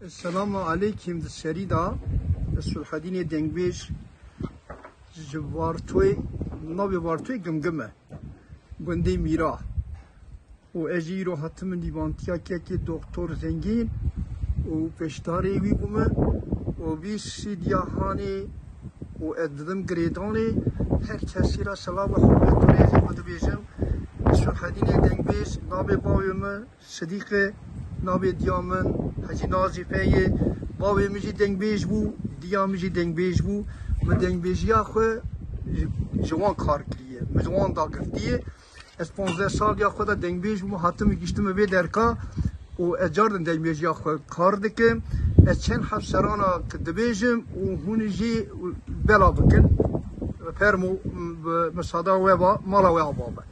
Selamu aleykim di serî de Sulhedînê Dengbêj ji Vartoyê navê Vartoyê Gimgim e gundê Mîra û ez jî îro hatim min dîvantiya kekê Doktor Zengîn û pêşdarê wî bû min û vî sîdya hanê û ez didim girêdanê her kesî re selav û hurmêt û rêzê xwe dibêjim Sulhedînê Dengbêj navê bavê min Sidîqê, Navê diya min hecî Nazîfe ye. Bavê min jî dengbêj bû, diya min jî dengbêj bû. Min dengbêjiya xwe ji wan kar kiriye, min ji wan dagirtiye. Ez panzdeh saliya xwe de dengbêj bûm, hatime gihiştime vê derka û ez carde dengbêjiya xwe kar dikim. Ez çend hevserana ki dibêjim û hûn jî bela bikin. Fermo, bi sada we va, mala we ava be.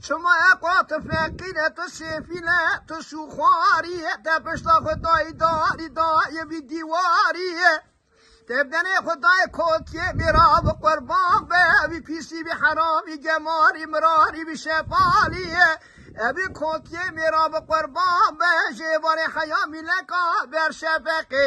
Çima ye ka tu feqîre, tu sêfîle, tu şûxwarî ye, te pişta xwe dayî darî, dayê vî dîwarî ye. Te benê xwe dayê kokiyê mêravê qurban be, vî pîsî, vî heramî, gemarî, mirarî, vî şefalî ye. Evî kokiyê mêravê qurban be, ji êvarê heya mîleka ber şefeqê.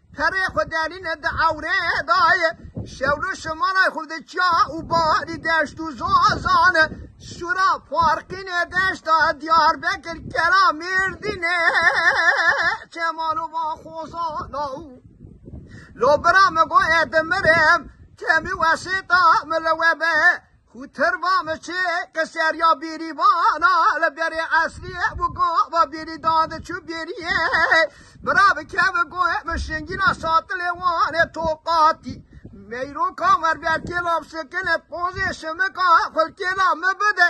Perê xwe derîne di ewrê de ye. Şewlo şimalay xwe di çiya û barî deşt û zazan e. Sura Parqînê deşta Diyarbekir kera Mêrdînê çemalovan xozana û Lo bira min goye dimirim temî wesêta min li we be. Ku ter va me çê ke seriya bêrîvana li berê esliyê bû gava bêrî dadi çû bêriyê. Bira bi kevi goyê min şingîna satilê wanê toqatî. Meyroka werberkê labsikine pozê şimika xulkê la mi bide.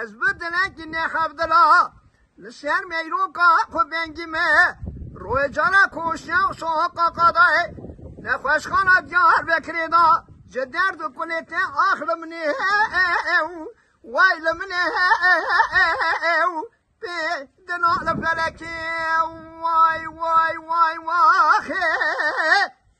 Ez bi dilekî nexebdila li ser meyroka xwe vengî me. Royê cara koşiya û sohoka qadayê nexweşxana Diyarbekirê da ji derd û kulê te ax li min e û way li min e û pê dina li felekê way way way way axê.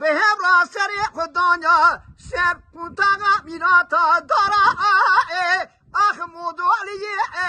Bi hev ra serê xwe danya ser qûntaxa mîrata dara e ax modoliyê e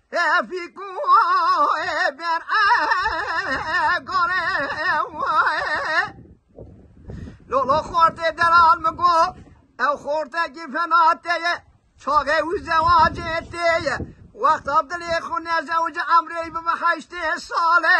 Lolo xortê deral mi go ew xortekî fena te ye çavê û zewacê te ye wexta dilê xwe nezewce emrê bibe heştê sale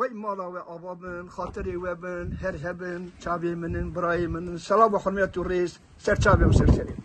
Wey mala we ava bin, xatirê we bin, her hebin, çavê min in, birayê min in, selav û hurmet û rêz ser çavê û ser serê min.